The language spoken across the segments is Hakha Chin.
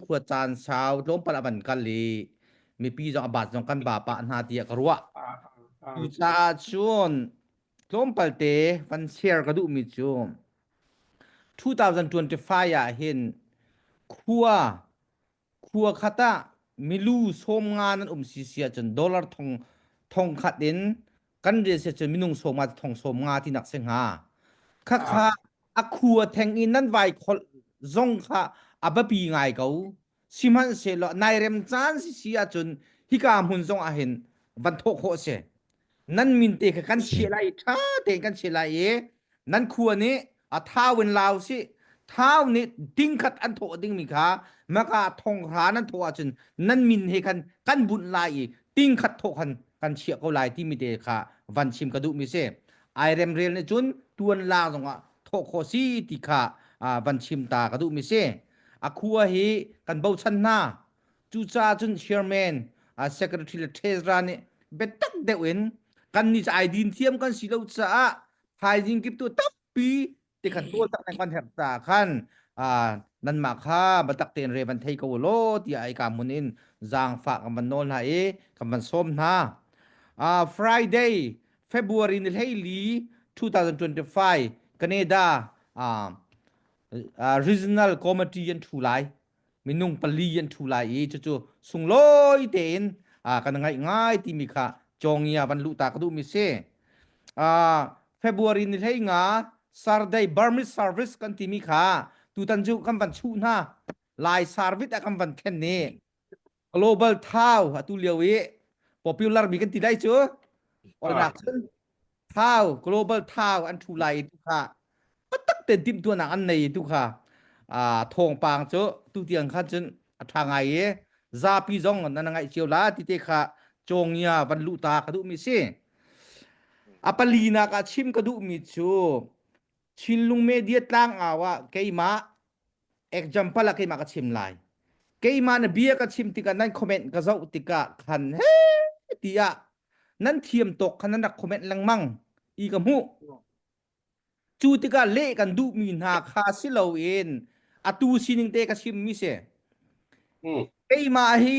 khuat caan sau tlawmpal a van kal i mipi zong a baat zong kan ba pah hna tiah ka ruah cucaah cun tlawmpal te van share ka duhmi cu 2025 ah hin khua khua khat ah milu sawm nga nan um si si ahcun dollar thong thong khat in kan rel se cun minung sawm nga thong sawm nga tinak se hnga khakha a khu a theng in nan vai khol zong kha a bapi ngai ko sihmanhsehlaw nai rem caan si si ahcun hika hmun zong ah hin van thawh khawh se nan min te kha kan che lai tha tein kan che lai i nan khua nih a thau in lau si thau nih ding khat an thawh ding mi kha maka thong hra nan thawh ahcun nan min he khan kan bunh lai i ting khat thawh khan kan chiah ko lai timi te kha van chim ka duh mi si ai remrel nih cun tuan la zong ah thawh kho si ti kha van chim ta ka duh mi si a khua hi kan bochan hna Cucaah cun chairman secretary le treasurer nih biatak deuh in kan ni ai din thiam kan si lo caah thaizing kip tu tampi ti kan tual tak ne kan herh ta khan nan mah kha batak tein re van thei ko law tiah ai ka mun in zaangfa kan van nawl hna i kan van sawm hna uh, Friday February ni hleili 2025 Canada uh, uh, regional committee an thu lai minung pali an thu lai i cucu sunglawi tein kan ngaih ngai timi kha congia van luh ta ka duhmi si February ni hlei nga Saturday Burmese service kan timi kha tutan cu kan van chuh hna lai service ah kan van thlen ni Global Thau atu lio i popular mi kan ti lai cu ornak cun Thau Global Thau an thu lai i tu kha tak ten timhtuahnak an nei i tu kha a thawngpang cu tutiang khan cun a ṭha ngai i zapi zong nan ngaih cio la ti te kha Congia van luh ta ka duhmi si. A palinak ah chim ka duhmi cu Chinlung media tlangau ah keimah example ah keimah ka chim lai keimah na bia ka chim tikah nan comment ka zoh tikah khan he tiah nan thiam tok khan nan rak comment lengmang i ka hmuh cu tikah leh kan duh mi hna kha si loin atu sining te ka chim mi si keimah hi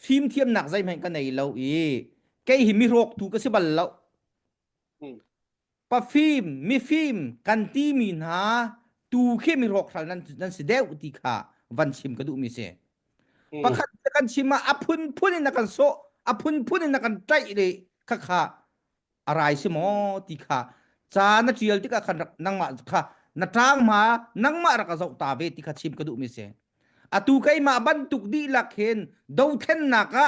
fimthiamnak zeihmanh ka nei lo i kei hi mi rawktu ka si bal lo pafim mifim kan timi hna tu khi mi rawkral nan nan si deuh ti kha van chim ka duhmi si hmm. pakhat kan chim a phunphun in na kan so a phunphun in na kan tlaih le khakha arai si mo ti kha cha na tial tika kan nangma kha na tang ma nangma raka zau ta ve ti kha chim ka duhmi si atu keima bantuk di lak hen do then naka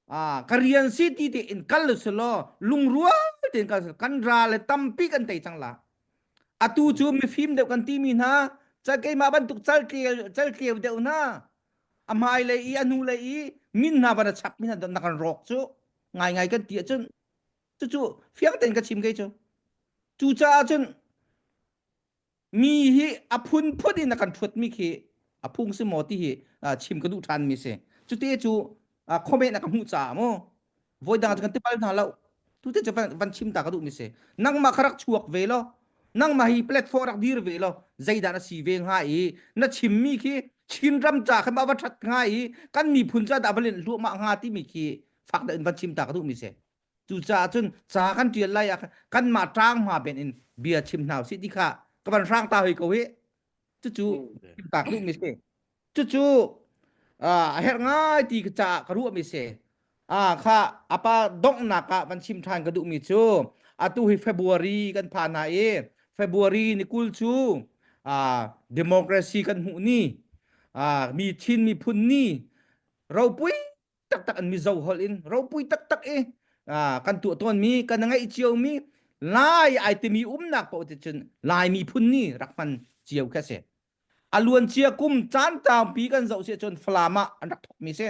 a ka rian si ti te in kal lu law lungrua te in kal kan ra le tampi kan tei cang la atu cu mifim deuh kan ti mi hna cal keimah bantuk cal tleu cal tleu deuh hna a hmai le i a hnu le i min hna van a chap mi hna na kan rawk cu ngai ngai kan ti ahcun cucu fiang tein ka chim kei cu cucaah cun mi hi a phunphun in a kan hrutmi khi a phung si maw ti hi chim ka duh ṭhanmi si cute cu khomen na ka hmuh caah mu voi dang kan ti bal hna lo tute cu van chim ta ka duhmi si nangmah ka rak chuak ve lo nangmah hi platform rak dir ve lo zeidah na si ve hnga i na chimmi khi chin ram ca khan va ṭhat hnga i kan miphun ca dah va len hluahmah hnga timi khi fak da in van chim ta ka duhmi si Cucaah cun ca kan ṭial lai ah kanmah ṭang hma ben in bia chim hna usih ti kha ka van hrang ta hoi ko hi cucu tak duh mi si cucu a herh ngai ti ka caah ka ruah mi si a kha apa donghnak ah van chim ṭhan ka duh mi cu atu hi February kan phan hna i February ni kul cu democracy kan hmuh ni mi Chin miphun ni ropui taktak an mizo hol in ropui taktak i kan tuah tuan mi kan ngeih cio mi lai ai timi umnak paoh ti cun lai miphun ni rak hman cio kha si aluan cia kum caan tampi kan zoh si cun flama an rak thok mi si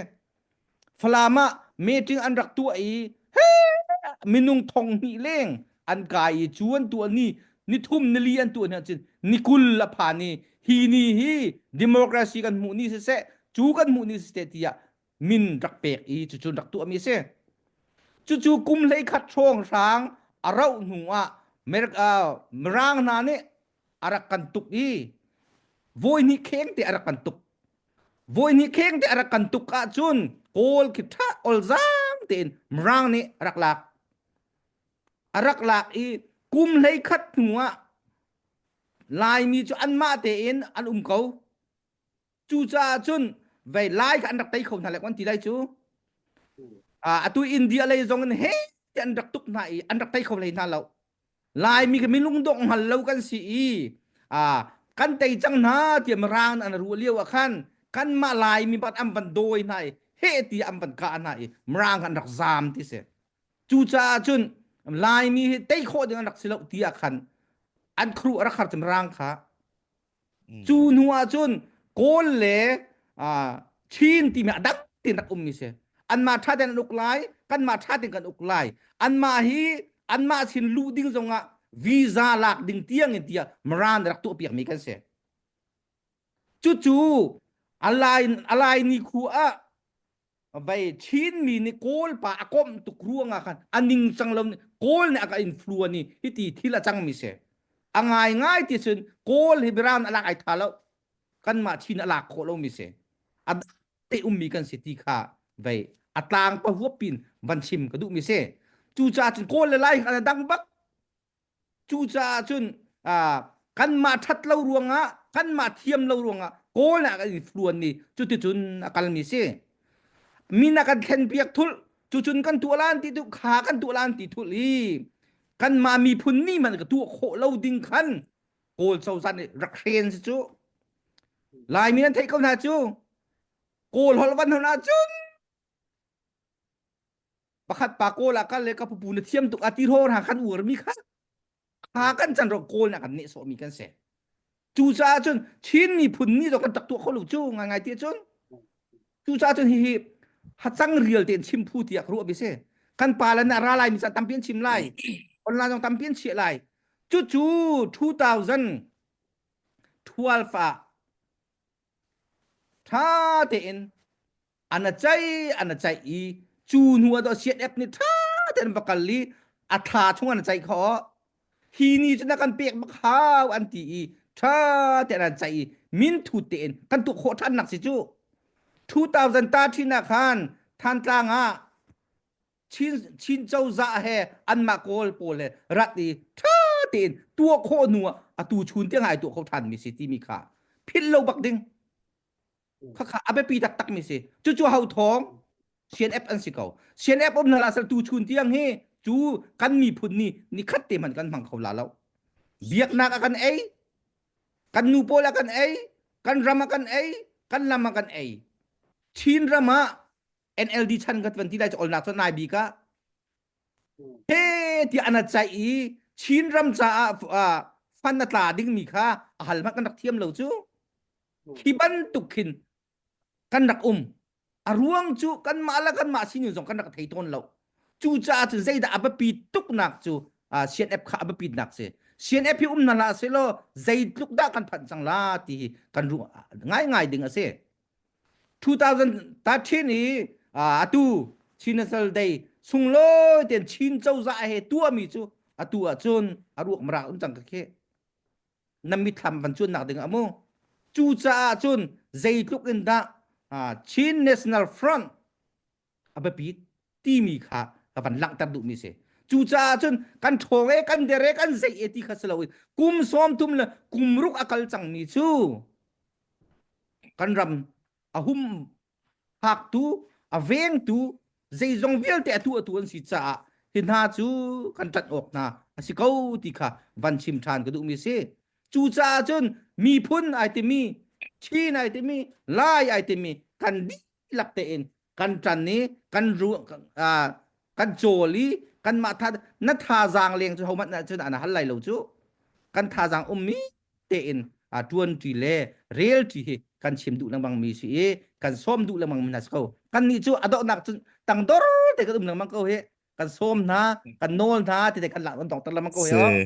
flama meeting an rak tuah i minung thong mi leng an kai i chuan tuah ni ni thum ni li an tuah ni cun ni kul la pha ni hi ni hi democracy kan hmuh ni se se cu kan hmuh ni se te tiah min rak pek i cucu rak tuahmi a si cucu kum hleikhat hrawng hrang a rauh hnu ah mirang hna nih a rak kan tuk i voi hnih kheng te a rak kan tuk voi hnih kheng te a rak kan tuk ahcun kawl khi ṭha olzang tein mirang nih a rak lak a rak lak i kum hleikhat hnu ah laimi cu anmah tein an um ko Cucaah cun vei lai kha an rak tei kho hna le an ti lai cu atu India lei zong in he an rak tuk hna i an rak tei kho hlei hna lo Laimi kan min lungdongh hngal lo kan si i kan tei cang hna tiah Mirang an ruah lio ah khan kanmah Laimi bat an van dawi hna i he ti an van kah hna i Mirang an rak zaam ti si cucaah cun Laimi hi tei khawh ding an rak si lo ti ah khan an kru a rak har cem Mirang kha cu Mm. hnu ah cun kawl le ah, chin timi ah dak tein rak ummi si. Anmah ṭha tein an uk lai, kanmah ṭha tein kan uk lai. Anmah hi anmah sin luh ding zongah visa lak ding tiangin tiah Maran rak tuahpiakmi kan si. Cucu a lai a lai ni khu ah vai chin mi ni kawl pa a kom tuk ruanga khan aning chang lo kawl ne aka in flu ani hiti thil a chang mi se angai ngai ti sun kawl hi biran alak ai tha lo kan ma chin alak kho lo mi se ad te um mi kan se ti kha vai atlang pa huapin van chim ka du mi se cu cha cun kawl le lai kha dang bak Cucaah cun kanmah ṭhat lo ruangah, kanmah thiam lo ruangah Kawl ah kan i hluan i cuticun a kalmi si. Min a kan thlenpiak thulh, cucun kan tuah lan ti tuh, kha kan tuah lan ti thulh i kanmah miphun nih hmanh ka tuah khawh lo ding khan Kawl cozah nih rak hren si cu. Laimi an theih ko hna cu, Kawl holh van hon ahcun Pakhat pa kawl ah kal le ka pupu na thiam tuk a ti hor ha kan uar mi kha ha kan chan ro kawl na kan ne so mi kan se cucaah cun Chin miphun ni zo kan tak tuah kho lu cu ngai ngai ti cun cucaah cun hi hi hacang rial tein chim phu tiah ruah bi si kan pa le na ra lai mi sa tampian chim lai online zong tampian chiah lai cucu 2012 ah ṭha tein an a caih an a caih i cu hnu ah daw CNF nih ṭha tein va kal i a thla chung an a caih kho hi ni cun a kan pek bak hau an ti i ṭha tein an caih i minthut tein kan tuah khawh ṭhannak si cu 2000 ta ṭhinak khan Thantlang ah Chin cozah he anmah kawl pawl he rat i ṭha tein tuah khawh hnu ah a tu chun tiang ai tuah kho ṭhan mi si timi kha philh lo bak ding khakha a biapi taktak mi si cucu ho thawng CNF an si ko CNF um hna lasal tu chun tiang hi cu kan miphun ni ni khat te hman kan hmang kho la lo biaknak a kan ei kan nu pawl a kan ei kan ram a kan ei kan lam a kan ei Chin ram ah NLD chan ka tuan ti lai olnak cun nai bika he ti ana chai i Chin ram caah fan na tla ding mi kha a hal hmat kan rak thiam lo cu khi bantuk khin kan rak um a ruang cu kan mah la kan mah sinu zong kan rak thei tawn lo cu caah cu zeidah a bapi tuknak cu CNF kha a bapi nak si CNF hi um na la se lo zeitluk dah kan phan cang la ti hi kan ru ngai ngai ding a si 2013 i atu Chin Nasal Day sunglawi ten Chin cozah he tuahmi cu atu ahcun a ruak mrak um cang ka khi na mithlam van cun nak ding a mu cu caah cun zeitluk in dah Chin National Front a biapit timi kha ka van langhter duhmi si cucaah cun kan ṭhawng e kan der e kan zei e ti kha si loin kum sawm thum le kum ruk a kal cangmi cu kan ram a hum phaktu a vengtu zeizong vialte atu atu an si caah hi hna cu kan ṭat awk hna a si ko ti kha van chim ṭhan ka duhmi si cucaah cun miphun ai timi chin ai timi lai ai timi kan lak tein kan tan i kan ru kan cawl i kanmah tha na thazaang leng cu homat na cun ana hal lai lo cu kan thazaang ummi tein a tuan ṭi le rel ṭi hi kan chim duh lengmang mi si i kan sawm duh lengmang mi hna si ko kan nih cu adawhnak cun tang dor te kan um lengmang ko hi kan sawm hna kan nawl hna ti te kan lak an tong ter lengmang ko hi